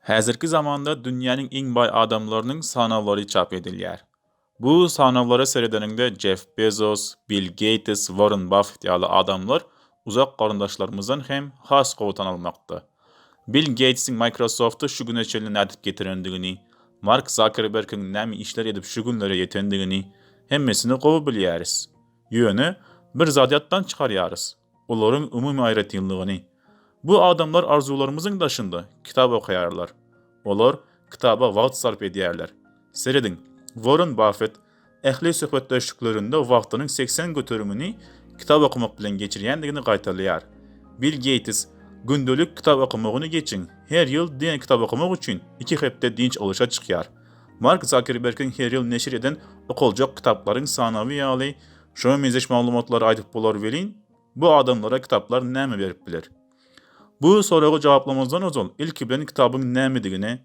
Häzirki zamanda dünýäniň iň baý adamlarynyň sanawlary çap edilýär. Bu sanawlara seredeniňde Jeff Bezos, Bill Geýtes, Warren Baffet ýaly adamlar uzak garyndaşlarymyzdan hem has gowy tanalmakda. Bill Geýtsiň Microsofty şu güne çenli nädip getirendigini, Mark Zakerbergiň näme işler edip şu günlere ýetendigini hemmesini gowy bilýäris. Ýöne, bir zady ýatdan çykarýarys, olaryň umumy aýratynlygyny. Bu adamlar arzuwlarymyzyň daşynda kitap okaýarlar. Olar kitaba wagt sarp edýärler. Serediň, Warren Baffet ähli söhbetdeşliklerinde wagtynyň segsen göterimini kitap okamak bilen geçirýändigini gaýtalaýar. Bill Geýts, Gündelik kitap okamagyny geçiň, her ýyl diňe kitap okamak üçin iki hepde dynç alyşa çykýar. Mark Zakerbergiň her ýyl neşir eden okaljak kitaplaryň sanawy ýaly şoňa meňzeş maglumatlary aýdyp bolar welin, bu adamlara kitaplar näme berip biler? Bu soraga jogaplamazdan ozal, ilki bilen kitabyň nämedigine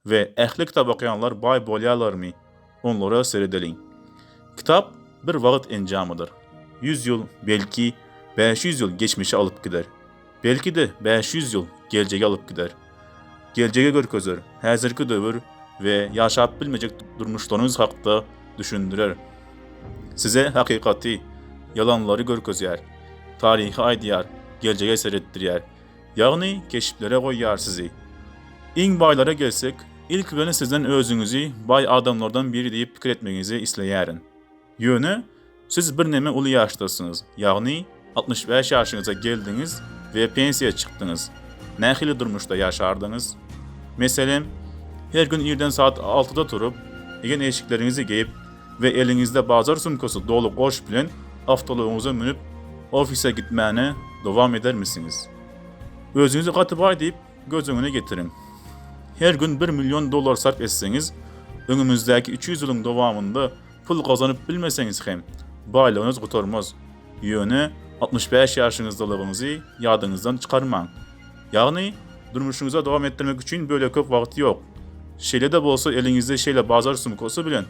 we ähli kitap okaýanlar baý bolýarlarmy, onlara seredeliň. Kitap bir wagt enjamydyr. Ýüz ýyl, belki, bäş ýüz ýyl geçmişe alyp gider. Belki-de, bäş ýüz ýyl geljege alyp gider. geljegi görkezer, häzirki döwür we ýaşap bilmejek durmuşlaryňyz hakda düşündirer. Size hakykaty, ýalanlary görkezýär, taryhy aýdýar, geljege seretdirýär. Ýagny keşplere goýýar sizi. Iň baýlara gelsek, ilki bilen sizden özüňizi baý adamlardan biri diýip pikir etmegiňizi isleýärin. Ýöne siz birneme uly ýaşdasyňyz, ýagny altmyş bäş ýaşyňyza geldiňiz we pensiýa çykdyňyz. Nähili durmuşda ýaşardyňyz? Meselem, her gün irden saat altyda turup, egin-eşikleriňizi geýip we eliňizde bazar sumkasy doly goş bilen awtoulagyňyza münüp, ofise gitmäni dowam edermisiňiz? Özüňizi gaty baý diýip göz öňüne getiriň. Her gün bir million dollar sarp etseňiz, öňümizdäki üç ýüz ýylyň dowamynda Pul gazanyp bilmeseňiz hem, baýlygyňyz gutarmaz. Ýöne altmyş bäş ýaşyňyzdalygyňyzy ýadyňyzdan çykarmaň. Ýagny, durmuşyňyza dowam etdirmek üçin bölek köp wagt ýok. Şeýle-de bolsa eliňizde şeýle bazar sumkasy bilen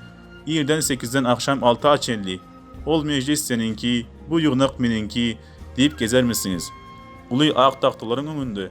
irden sekizden agşam alta çenli Ol mejlis seniňki, bu ýygnak meniňki diýip gezermisiňiz? Uly ak tagtalaryň öňünde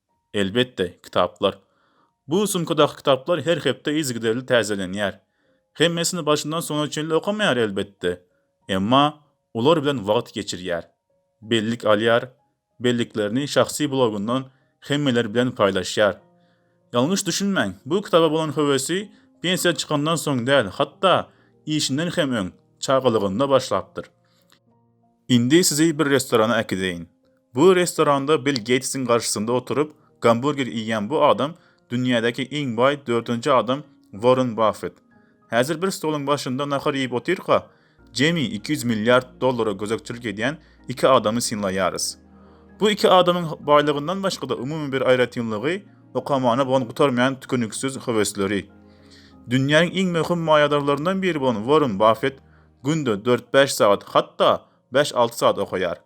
Elbetde, kitaplar. Bu sumkadaky kitaplar her hepde yzygiderli täzelenýär. Hemmesini başyndan soňuna çenli okamaýar, elbetde. Emma olar bilen wagt geçirýär. Bellik alýar, belliklerini şahsy blogyndan hemmeler bilen paýlaşýar. Ýalňyş düşünmäň, bu kitaba bolan höwesi pensiýa çykandan soň däl, hatda işinden hem öň, çagalygynda başlapdyr. Indi sizi bir restorana äkideýin. Bu restoranda Bill Geýtsiň garşysynda oturyp, gamburger iýýän bu adam dünýädäki iň baý dördünji adam Worren Baffet. Häzir bir stoluň başynda nahar iýip otyrka, jemi iki ýüz milliard dollara gözegçilik edýän iki adamy synlaýarys. Bu iki adamyň baýlygyndan başga-da umumy bir aýratynlygy okamana bolan gutarmaýan tükeniksiz höwesleri. Dünýäniň iň möhüm maýadarlaryndan biri bolan Worren Baffet günde dört-bäş sagat, hatda bäş-alty sagat okaýar.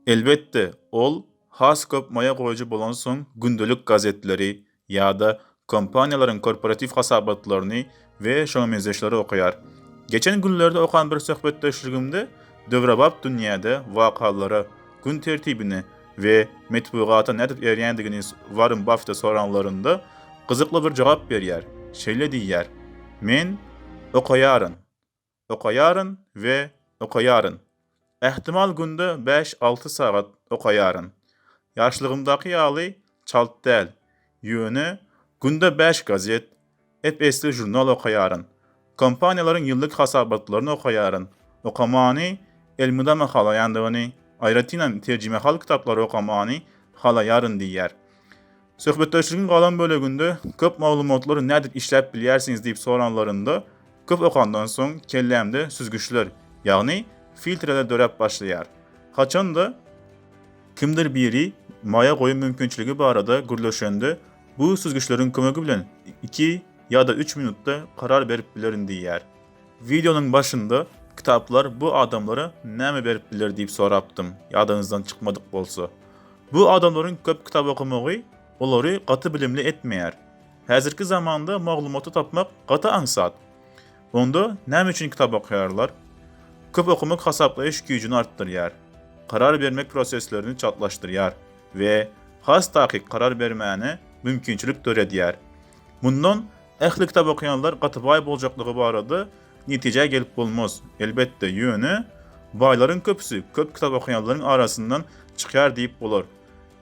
Elbetde, ol has köp maýa goýujy bolansoň gündelik gazetleri ýa-da kompaniýalaryň korporatiw hasabatlaryny we şoňa meňzeşleri okaýar. Geçen günlerde okan bir söhbetdeşligimde döwrebap dünýäde wakalara, gün tertibine we metbugata nädip eýerýändigini Warren Baffete soranlarynda gyzykly bir jogap berýär, şeýle diýýär, Men okaýaryn. Okaýaryn we okaýaryn. Ähtimal günde bäş-alty sagat okaýaryn. Ýaşlygymdaky ýaly çalt däl, ýöne günde bäş gazet, ep-esli žurnal okaýaryn. Kompaniýalaryň ýyllyk hasabatlaryny okaýaryn. Okamany elmydama halaýandygyny, aýratynam terjimehal kitaplary okamany halaýaryn diýýär. Söhbetdeşligiň galan böleginde köp maglumatlary nädip işläp bilýärsiňiz diýip soranlarynda, köp okandan soň kellämde süzgüçler, ýagny filtreler döräp başlaýar. Haçan-da, kimdir biri maýa goýum mümkinçiligi barada gürleşende, bu süzgüçleriň kömegi bilen iki ýa-da üç minutda karar berip bilerin diýýär. Wideonyň başynda kitaplar bu adamlara näme berip biler diýip sorapdym, ýadyňyzdan çykmadyk bolsa. Bu adamlaryň köp kitap okamagy olary gaty bilimli etmeýär. Häzirki zamanda maglumaty tapmak gaty aňsat. Onda näme üçin kitap okaýarlar? Köp okamak hasaplaýyş güýjüni artdyrýar, karar bermek proseslerini çaltlaşdyrýar we has takyk karar bermäne mümkinçilik döredýär. Mundan Ähli kitap okaýanlar gaty baý boljakdygy barada netijä gelip bolmaz, elbetde, ýöne baýlaryň köpüsi köp kitap okaýanlaryň arasyndan çykýar diýip bolar.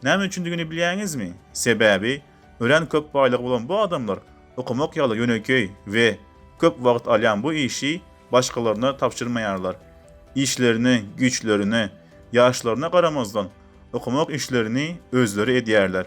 Näme üçindigini bilýäňizmi? Sebäbi örän köp baýlygy bolan bu adamlar okamak ýaly ýönekeý we köp wagt alýan bu işi başgalaryna tabşyrmaýarlar. Işlerine, güýçlerine, ýaşlaryna garamazdan, okamak işlerini özleri edýärler.